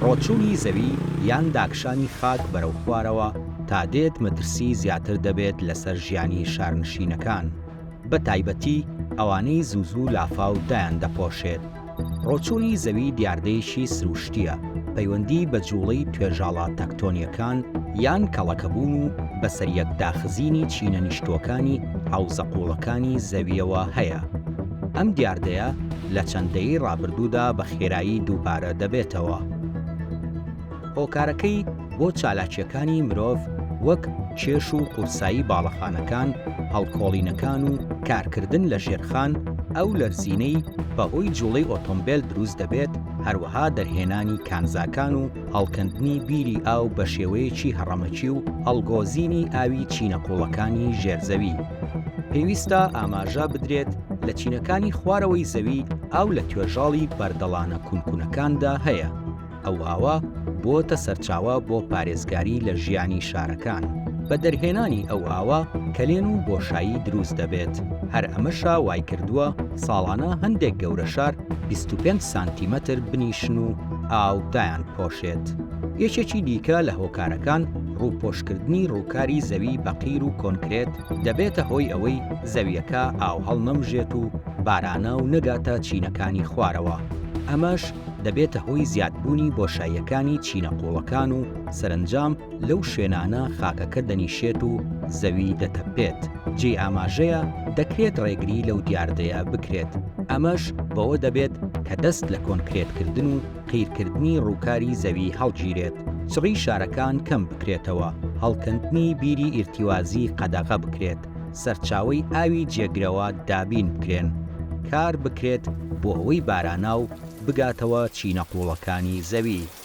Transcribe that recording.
ڕۆچوونی زەوی یان داکشانی خاک بەرەو خوارەوە تا دێت مەترسی زیاتر دەبێت لەسەر ژیانی شارنشینەکان بە تایبەتی ئەوانەی زوو زوو لافاو دایان دەپۆشێت. ڕۆچوونی زەوی دیاردەیەکی سروشتییە پەیوەندی بە جووڵەی توێژاڵە تەکتۆنییەکان یان کەڵەکەبوون و بەسەریەک داخزینی چینە نیشتووەکانی حەوزە قووڵەکانی زەوییەوە هەیە. ئەم دیاردەیە لە چەند دەیەی ڕابردوودا بە خێرایی دووبارە دەبێتەوە. هۆکارەکەی بۆ چالاکییەکانی مرۆڤ وەک کێش و قورسایی باڵەخانەکان، هەڵکۆڵینەکان و کارکردن لە ژێرخان، ئەو لەرزینەی بەهۆی جووڵەی ئۆتۆمبێل دروست دەبێت، هەروەها دەرهێنانی کانزاکان و هەڵکەندنی بیری ئاو بە شێوەیەکی هەڕەمەکی و ئەڵگۆزینی ئاوی چینە قووڵەکانی ژێر زەوی. پێویستە ئاماژە بدرێت لە چینەکانی خوارەوەی زەوی ئاو لە توێژاڵی بەردەڵانە کونکونەکاندا هەیە، ئەو ئاوە بۆتە سەرچاوە بۆ پارێزگاری لە ژیانی شارەکان، بە دەرهێنانی ئەو ئاوە کەلێن و بۆشایی دروست دەبێت، هەر ئەمەشە وایکردووە ساڵانە هەندێک گەورەشار بیست و پێنج سانتیمەتر بنیشن و، ئاو دایانپۆشێت. یەکێکی دیکە لە هۆکارەکان ڕووپۆشکردنی ڕووکاری زەوی بە قیر و کۆنکرێت دەبێتە هۆی ئەوەی زەویەکە ئاو هەڵنەمژێت و باراناو نەگاتە چینەکانی خوارەوە، ئەمەش دەبێتە هۆی زیادبوونی بۆشاییەکانی چینە قوڵەکان و سەرەنجام لەو شوێنانە خاکەکە دەنیشێت و زەوی دەتەپێت، جێی ئاماژەیە دەکرێت ڕێگری لەو دیاردەیە بکرێت، ئەمەش بەوە دەبێت کە دەست لە کۆنکرێتکردن و قیرکردنی ڕووکاری زەوی هەڵگیرێت، چڕی شارەکان کەم بکرێتەوە، هەڵکەندنی بیری ئیرتیوازی قەدەغە بکرێت، سەرچاوەی ئاوی جێگرەوە دابین بکرێن، کار بکرێت بۆ ئەوەی باراناو بگاتەوە چینە قووڵەکانی زەوی.